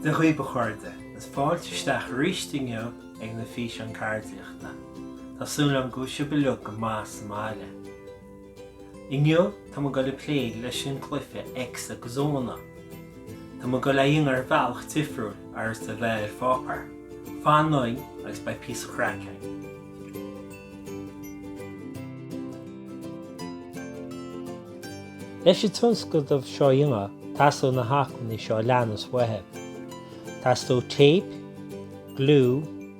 Dia dhaoibh a chairde, is fáilte isteach arís inniu ag na físeáin ceardaíochta. Tá súil agam go bhfuil sibh uilig go maith sa mbaile. Inniu tá muid goil ag plé leis an cluife X agus O na. Tá muid goil á dhéanamh ar bhealach difriúil seachas a bheith ar pháipéar. Fanaigí linn agus beidh píosa craic againn. Leis an tionscadamh seo a dhéanamh teastóidh na hacmhainní seo a leanas uait. Teastóidh téip, gliú,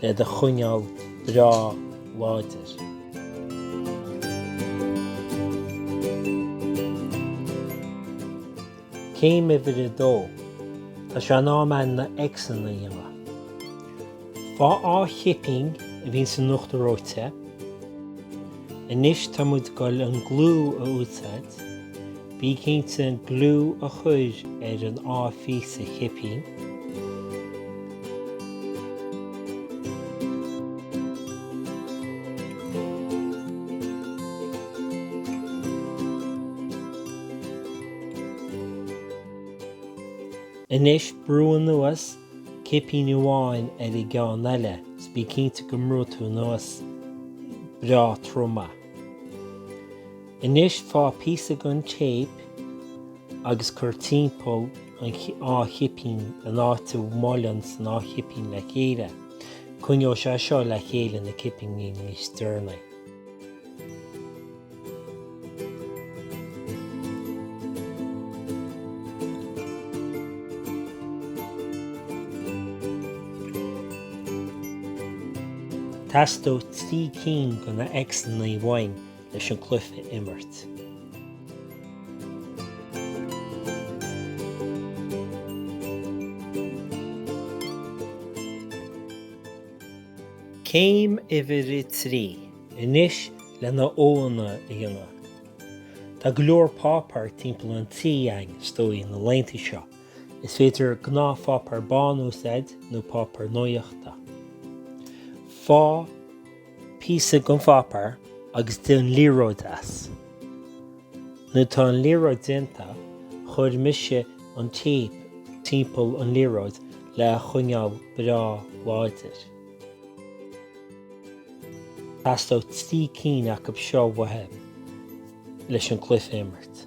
le do choinneal breá láidir. Céim uimhir a dó, Tá sé in am againn na X-anna a dhéanamh. Faigh dhá chipín a bhíonn san uachtar reoite. Anois tá muid goil an gliú a úsáid. Bí cinnte an gliú a chur ar an dá phíosa cipín. Anois brú anuas cipín amháin ar an gceann eile is bí cinnte go mbrúnn tú anuas breá trom é. Anois faigh píosa den téip agus cuir timpeall an dá chipín an áit a mbuaileann an dá chipín le chéile. Coinneoidh sé seo le chéile na cipíní níos deireanaí. Teastóidh trí cinn de na X-annaí uainn leis an gcluiche a imirt. Céim uimhir a trí anois leis na O-anna a dhéanamh. Tá go leor páipéar timpeall an tí againn, is dóigh, na laethanta seo. Is féidir gnáthpháipéar bán a úsáid nó páipéar nuaíochta. Faigh. píosa den pháipéar agus déan liathróid as. Nuair atá an liathróid déanta, chuir mise an téip timpeall an liathróid le a choinneáil breá láidir. Teastóidh trí cinn acu seo uait leis an cluiche a imirt.